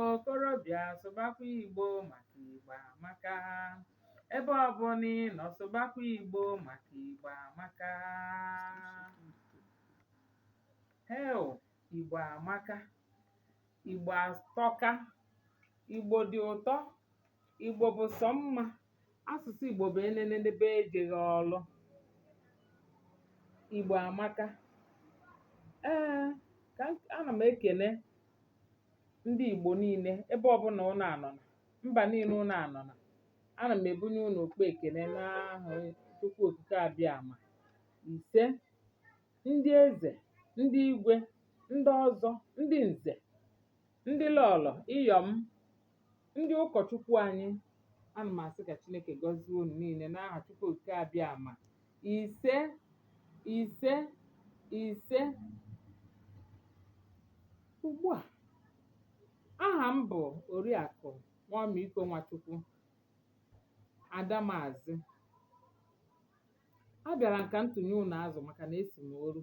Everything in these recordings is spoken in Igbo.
Okorobịa sụbakwa Igbo maka Igbo amaka. Ebe ọbụla ị nọ sụbakwa Igbo maka Igbo amaka. Heo, Igbo amaka. Igbo atọka. Igbo dị ụtọ. Igbo bụ sọ mma. Asụsụ Igbo bụ enenenebe ejeghị ọlụ. Igbo amaka. Ee, ka m- ana m ekene ndị Igbo niile ebe ọbụla ụnụ anọna mba niile ụnụ anọna ana m ebunye ụnụ ụkpa ekene n'aha Chukwu Okike Abịama ise ndị eze ndị igwe ndị ọzọ ndị nze ndị lọlọ ịyọ̀m ndị ụkọ̀chukwu anyị a nà m àsị kà chinėkè gọzie unù niilė n'ahà chukwu òkìkè abịàmà ìse ìse ìse ùgbu à ahà m bụ̀ òriàkụ̀ nwọmikȯ nwachukwu àdamàzị abịàrà m kà m tùnye unù azụ̀ màkà nà esì m oru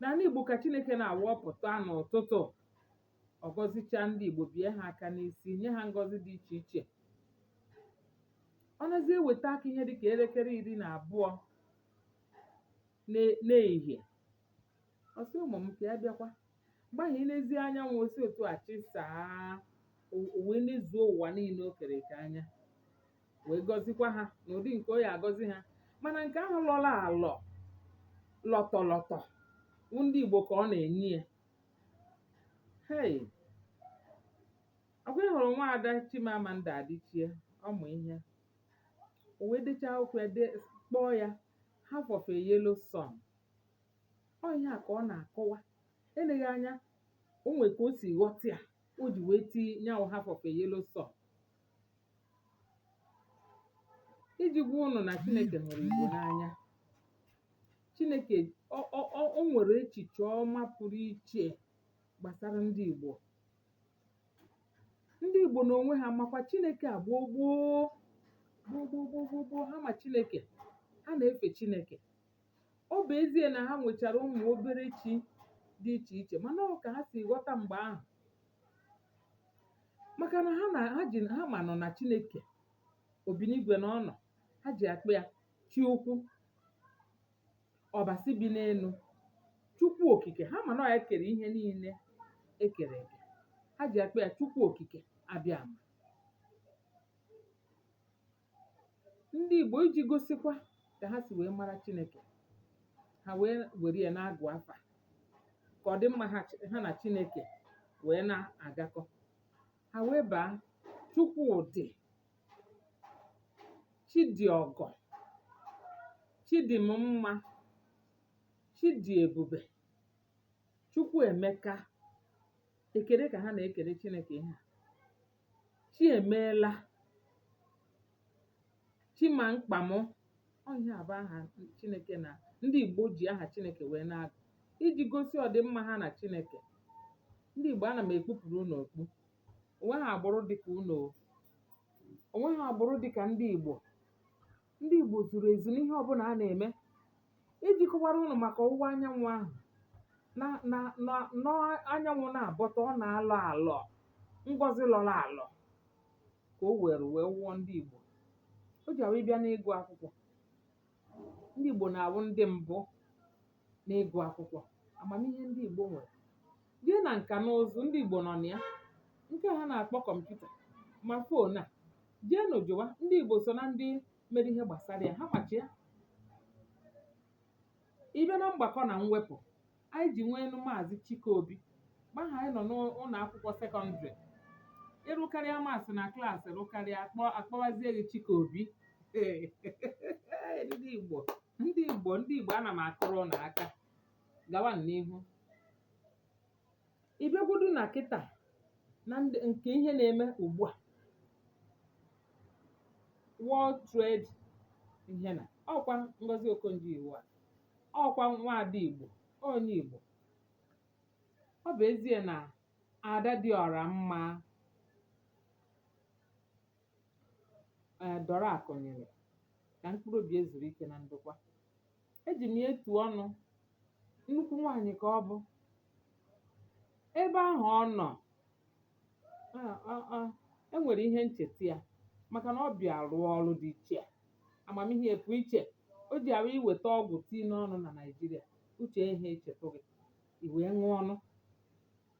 n'ala Igbo ka Chineke na-awapụta n'ụtụtụ ọ gọzichaa ndị Igbo bie ha aka n'isi nye ha ngọzi dị iche iche ọ nazi eweta aka ihe dịka elekere iri na abụọ n'e- n'ehihie ọ sị ụmụ m ka ya bịakwa mgbe ahụ i lezi anyanwụ o si otu a chịsaa o o wee nezuo ụwa niile o kere eke anya wee gọzikwa ha n'ụdị nke ọ ya agọzi ha mana nke ahụ lọrọ alọ lọtọlọtọ wụ ndị Igbo ka ọ na-enye ya hei ọkwa ị hụrụ nwa ada Chimamanda Adichie ọmụ ihe o wee dechaa akwụkwọ ya dee kpọọ ya half of a yellow sun ọ ihe a ka ọ na-akọwa eleghị anya o nwere ka o si ghọta ya o ji wee tinye anyanwụ half of a yellow sun iji gwa ụnụ na Chineke hụrụ Igbo n'anya. Chineke ọ ọ ọ o nwere echiche ọma pụrụ iche gbasara ndị Igbo. Ndị Igbo n'onwe ha makwa Chineke a gboo gboo gboo gboo gboo gboo gboo ha ma Chineke. Ha na-efe Chineke. Ọ bụ ezie na ha nwechara ụmụ obere chi dị iche iche mana ọ ka ha si ghọta mgbe ahụ maka na ha na ha ji ha manụ na chineke obinigwe na ọ nọ ha ji akpọ ya chi ukwu ọbasi bi n'elu chukwu okike ha ma na ọ ya kere ihe niile e kere eke ha ji akpọ ya chukwu okike abịama ndị Igbo iji gosikwa ka ha si wee mara Chineke ha wee were ya na-agụ afa ka ọ dị mma ha chi- ha na Chineke wee na-agakọ ha wee baa Chukwudị Chidịọgọ Chidimma Chidiebube Chukwuemeka ekele ka ha na-ekele Chineke ihe a Chi emeela Chi ma mkpa mụ ọ ihe a bụ aha Chineke na ndị Igbo ji aha Chineke wee na-agụ iji gosi ọdịmma ha na Chineke ndị Igbo ana m ekpupụrụ unu okpu o nweghị agbụrụ dị ka unu o o nweghị agbụrụ dị ka ndị Igbo ndị Igbo zuru ezu n'ihe ọbụla a na-eme iji kọwara ụnụ maka ọwụwa anyanwụ ahụ na na na na anyanwụ na-abọta ọ na-alọ alọ ngọzi lọrọ alọ ka o were wee wụọ ndị Igbo o ji awụ ị bịa n'ịgụ akwụkwọ ndị Igbo na-awụ ndị mbụ n'ịgụ akwụkwọ amamihe ndị Igbo nwere jee na nka na ụzụ ndị Igbo nọ na ya nke ha na-akpọ kọmputa ma fon a jeenụ jụwa ndị Igbo so na ndị mere ihe gbasara ya ha machi ya ị bịa na mgbakọ na mwepụ anyị ji nweenụ maazị Chike Obi mgbe ahụ anyị nọ n'ụlọ akwụkwọ sekọndịrị ị rụkarịa maths na klaasị rụkarịa a kpọ a kpọwazie gị Chike Obi ndị Igbo ndị Igbo ndị Igbo ana m akụrụ ụnụ aka gawa n'ihu ị bịagwodu na kịta na nke ihe na-eme ugbu a World Trade ihe na ọkwa Ngozi Okonjo-Iweala ọkwa nwaada Igbo onye Igbo ọ bụ ezie na ada dị ọra mma ee Dora Akunyili ka mkpụrụ obi ya zuru ike na ndokwa eji m ya etu ọnụ nnukwu nwaanyị ka ọ bụ ebe ahụ ọ nọ e nwere ihe ncheta ya maka na ọ bịa rụọ ọrụ dị iche a amamihe ya pụ iche o ji arụ i weta ọgwụ tii n'ọnụ na Naịjirịa uche ihe echetụ gị i wee ṅụọ ọnụ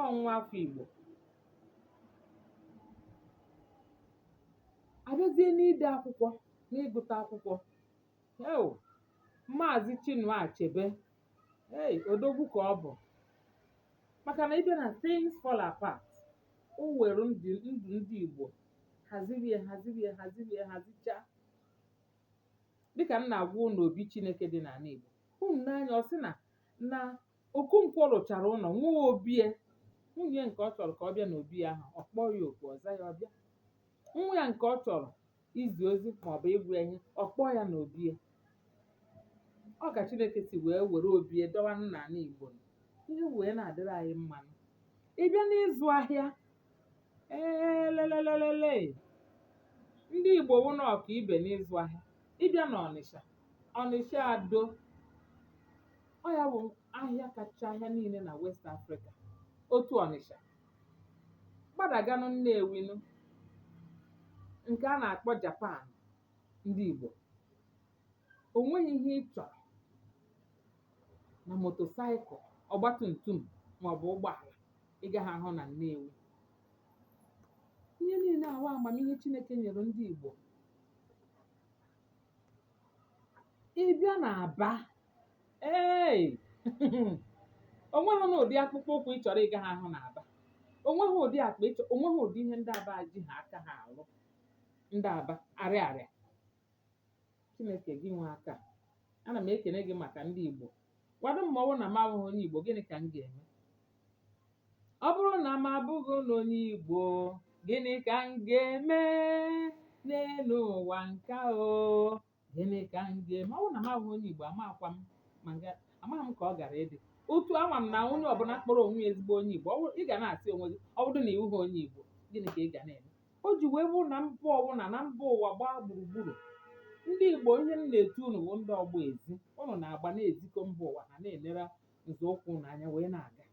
ọ nwa afọ Igbo a bịazie n'ide akwụkwọ n'ịgụta akwụkwọ eo Maazị Chinua Achebe ei odogwu ka ọ bụ maka na ị bịa na Things Fall Apart o were ndụ ndụ ndị Igbo haziri ya haziri ya haziri ya hazichaa dịka m na-agwa unu obi Chineke dị n'ala Igbo unu n'anya ọ sị na na Okonkwọ rụchara ụlọ, nwee obi ya. Nwunye ya nke ọ chọrọ ka ọ bịa n'obi ya ahụ, ọ kpọọ ya oku, ọ za ya, ọ bịa. Nwa ya nke ọ chọrọ izi ozi maọbụ ịgwa ya ihe, ọ kpọọ ya n'obi ya. Ọ ka Chineke si wee were obi ya dọwa n'ala Igbo. Ihe wee na-adịrị anyị mma. Ị bịa n'ịzụ ahịa, ee lelelelele, ndị Igbo wụ na ọka ibe n'ịzụ ahịa. Ị bịa n'Ọnịsha, Ọnịsha Ado. ọ ya bụ ahịa kacha ahịa niile na West Africa otu Ọnịsha gbadaganụ Nnewinụ nke a na-akpọ Japan ndị Igbo o nweghị ihe ị chọrọ na motosaịkụl ọgbatumtum maọbụ ụgbọala ị gaghị ahụ na Nnewi ihe niile ahụ amamihe Chineke nyere ndị Igbo ị bịa n'Aba ee o nweghị na ụdị akpụkpọ ụkwụ ị chọrọ ị gaghị ahụ na aba o nweghị ụdị akpa ị chọọ o nweghị ụdị ihe ndị aba ejighị aka ha alụ ndị aba Arịarịa chineke gị nwe aka ana m ekene gị maka ndị igbo gwadị m ma ọ bụrụ na m abụghị onye igbo gịnị ka m ga-eme ọ bụrụ na m abụghị na onye igbo gịnị ka m ga-eme n'elu ụwa nke a o gịnị ka m ga-eme ọ bụrụ na m awụghị onye Igbo amakwa m ma nga amaghị m ka ọ gara ịdị otu ama m na onye ọbụla kpọrọ onwe ya ezigbo onye Igbo ọ bụrụ ị ga na-asị onwe gị ọ bụrụ na ị wụghị onye Igbo gịnị ka ị ga na-eme o ji wee bụrụ na mba ọbụla na mba ụwa gbaa gburugburu ndị Igbo ihe m na-etu unu bụ ndị ọgba ezi unu na-agba na-ezikọ mba ụwa ha na-enere nzọụkwụ unu anya wee na-aga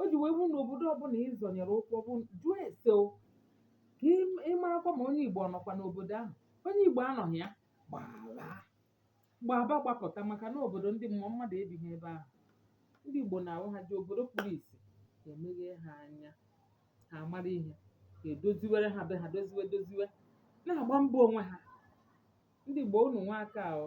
o ji wee bụrụ na obodo ọbụla ị zọnyere ụkwụ ọ bụ jụọ ese o ka ị ị marakwa ma onye Igbo ọ nọkwa n'obodo ahụ onye Igbo anọghị ya gbala gbaba gbapụta maka na obodo ndị mmụọ mmadụ ebighị ebe ahụ ndị Igbo na-awụ ha jee obodo kpuru isi ha emeghe ha anya ha amara ihe ha edoziwere ha be ha doziwe doziwe na-agba mbọ onwe ha ndị Igbo unu nwe aka ahụ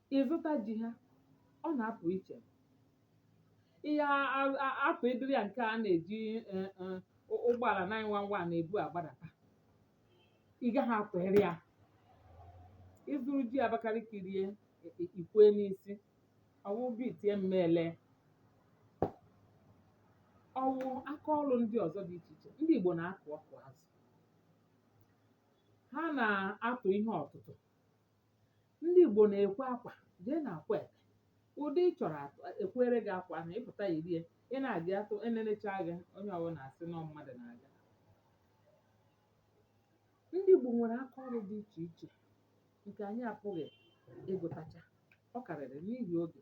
ị̀ zụta ji ha ọ nà-apụ̀ ichè ị ya a apụ̀ ịdịrị yȧ ǹke a nà-èji ụ ụgbọàlà nine one one nà-èbu àgbadàta ị gaghị apụ̀ iri yȧ ị zụrụ ji àbakalìkì rie ì kwee n'isi ọ̀ wụ gị ì tie m̀me èle ọ̀ wụ aka ọlụ̇ ndị ọ̀zọ dị ichè ichè ndị ìgbò nà-akụ̀ ọkụ̀ azụ̀ ha nà-atụ̀ ihe ọ̀tụtụ̀ ndị ìgbò nà-èkwe akwà jee nà àkwetè ụ̀dị ị chọ̀rọ̀ àtụ è kwere gị akwà ahụ̀ ị pụ̀ta yìri e ị na-àga atụ e nenecha gị onye ọwụnà àsị nà ọ mmadụ̀ nà-àga ndị ìgbò nwèrè aka ọrụ dị ichè ichè ǹkè ànyị àpụghị̀ ịgụ̇tacha ọ kàrị̀rị̀ n'ihì ogè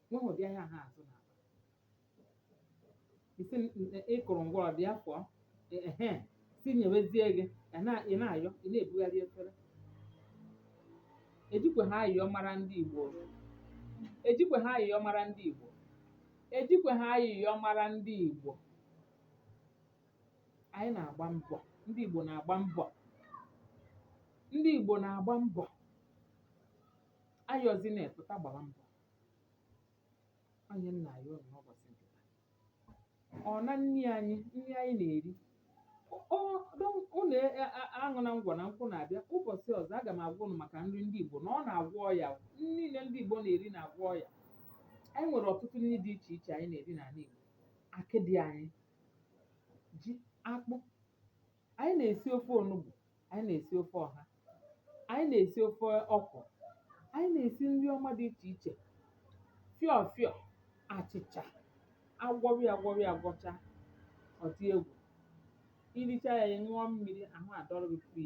nwa ahụ dị ahịa ha azụ na akpa isi m- m- ị kụrụ ngwa ọ dị afọ ehe si nyewezie gị ị na- ị na-ayọ ị na-ebugharị efere ejikwe ha ayọ mara ndị Igbo ejikwe ha ayọ mara ndị Igbo ejikwe ha ayịyọ mara ndị Igbo anyị na-agba mbọ ndị Igbo na-agba mbọ ndị Igbo na-agba mbọ ayọzi na-epụta gbara mbọ ọ ihe m na-ayọ unu n'ụbọchị nke taa. Ọ na nri anyị, nri anyị na-eri. Ọ ọ don't unu e a a aṅụna ngwọ na nkwụ na-abịa. Ụbọchị ọzọ, aga m agwa unu maka nri ndị Igbo na ọ na-agwọ ọya o. Nri niile ndị Igbo na-eri na-agwọ ọya. Anyị nwere ọtụtụ nri dị iche iche anyị na-eri n'ala Igbo. Akịdị anyị, ji, akpụ, Anyị na-esi ofe onugbu, anyị na-esi ofe ọha, anyị na-esi ofe ọkwụrụ, anyị na-esi nri ọma dị iche iche, fịọ fịọ, achịcha, agwọrị ya agwọrị ya agwọcha, ọ dị egwu. I richaa ya, ị ṅụọ mmiri, ahụ adọrọ gị pịị.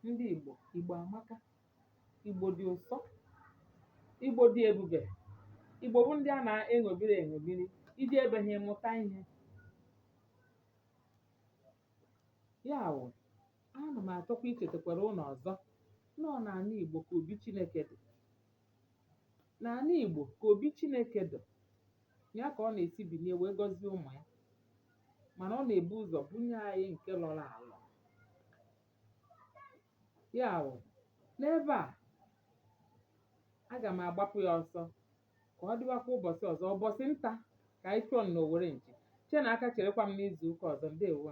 Ndị Igbo, Igbo amaka. Igbo dị ụsọ, Igbo dị ebube, Igbo bụ ndị a na-eṅomiri eṅomiri, iji ebe ha ịmụta ihe. Ya wụ, ana m achọkwa ichetakwara ụnụ ọzọ na ọ n'ala Igbo ka obi Chineke dị. N'ala Igbo ka obi Chineke dị, ya ka ọ na-esi bilie wee gọzie ụmụ ya, mana ọ na-ebu ụzọ bunye anyị nke lọrọ alọ. Ya wụ, n'ebe a, aga m agbapụ ya ọsọ ka ọ dịwakwa ụbọchị ọzọ ụbọchị nta ka anyị chụọ n'owere nchi che na aka cherekwa m n'izu ụka ọzọ ndewo